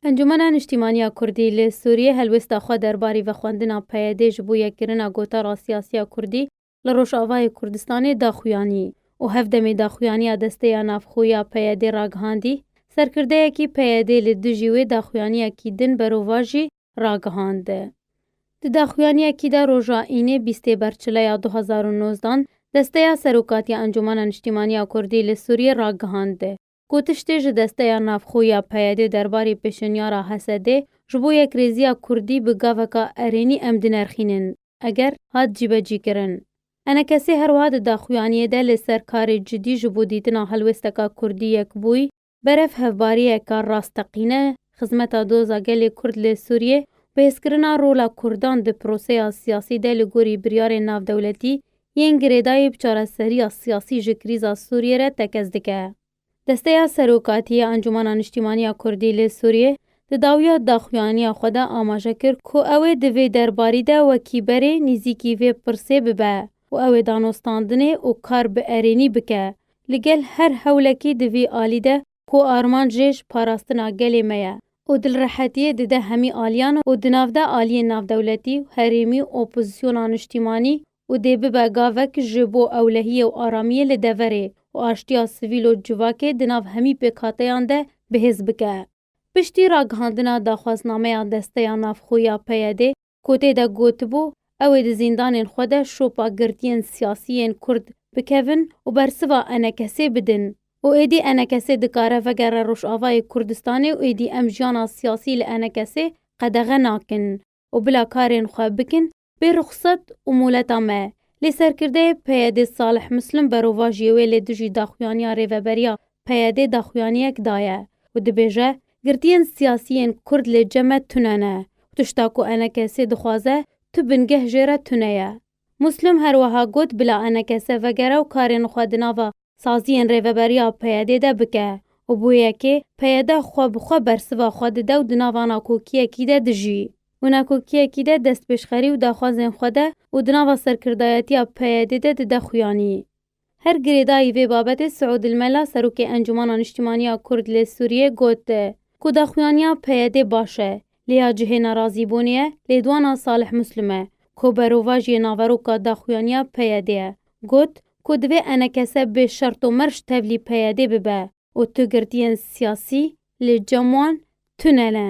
Encûmena Niştîmaniya Kurdî li Sûriyê helwêsta xwe derbarî vexwendina PYD'ê ji bo yekkirina gotara siyasiya Kurdî li Rojavayê Kurdistanê daxuyanî û hev demê daxuyaniya desteya navxwe ya PYD'ê ragihandî. Serkirdeyekî PYD'ê li dijî wê daxuyaniyekî din berovan jî ragihand. Di daxuyaniyekî de roja Înê bîstê Berçileya du hezar û nozdan desteya Serokatiya Encûmena Niştîmaniya Kurdî li Sûriyê ragihand. ku tiştê ji desteya navxwe ya PYDê derbarê pêşenyara HSDê ji bo yekrêziya Kurdî bi gaveka erênî em dinerxînin, eger, hat cîbecîkirin. Enekesê her wiha di daxuyaniyê de li ser karê cidî ji bo dîtina helwêsteka Kurdî yekbûyî, berev hevbariyeke rasteqîne, xizmeta doza gelê Kurd li Sûriyê û bi hêzkirina rola Kurdan di proseya siyasî de li gorî biryarên navdewletî Yên girêdayî bi çareseriya siyasî ji krîza Sûriyê re tekez dike. Desteya Serokatî ya Encûmena Niştîmanî ya Kurdî li Sûriyê di dawiya daxuyanîya xwe de amaje kir ku ew ê di vê derbarî de wekî berê nîzîkî vê pirsê bibe û ew ê danostandinê û kar bi erênî bike li gel her hewlekî di vî alî de ku armanc jê ji parastina gelê me ye û dilrehetiyê dide hemî aliyan û di navde aliyên navdewletî û herêmî û opozisyona niştîmanî û dê bibe gavek ji bo ewlehiyê û aramiyê li deverê û aştiya sivîl û civakê di nav hemî pêkhateyan de bihêz bike. Piştî ragihandina daxwaznameya Desteya Navxwe ya PYD'ê, ku tê de gotibû, ew ê di zîndanên xwe de şopa girtiyên siyasî yên Kurd bikevin û bersiva enekesê bidin û êdî enekesê dikare vegere Rojavayê Kurdistanê û êdî em jiyana siyasî li enekesê qedexe nakin û bila karên xwe bikin bê ruxsat û moleta me lê serkirdeyê PYDê Salih Muslim berovajiyê wê lê dijî daxuyaniya rêveberiya PYD daxuyaniyek daye û dibêje, Girtiyên siyasî yên kurd lê cem e tune ne û tişta ku enekesê dixwaze tu bingeh jê re tune ye. Muslum her weha got bila enekese vegere û karên xwe di nava saziyên rêveberiya PYD'ê de bike û bo yekê PYD xwe bi xwe bersiva xwe dide û di nava nakokiyekî de dijî û nakokiyekî de destpêşxerî û daxwazên xwe de û di nava serkirdayetiya PYD'ê de dide xuyanî. Her girêdayî vê babetê Siûd Elmela Serokê Encûmana Niştîmanî ya Kurd lê Sûrîyê got ku daxuyanîya PYDê baş e lê ya cihê nerazîbûnê ye, lêdwana Salih Muslim e ku berovajî yê naveroka daxuyanîya PYDê ye got ku divê enekese bê şert û merc tevlî PYDê bibe û tu girtîyên sîyasî li cem wan tune ne.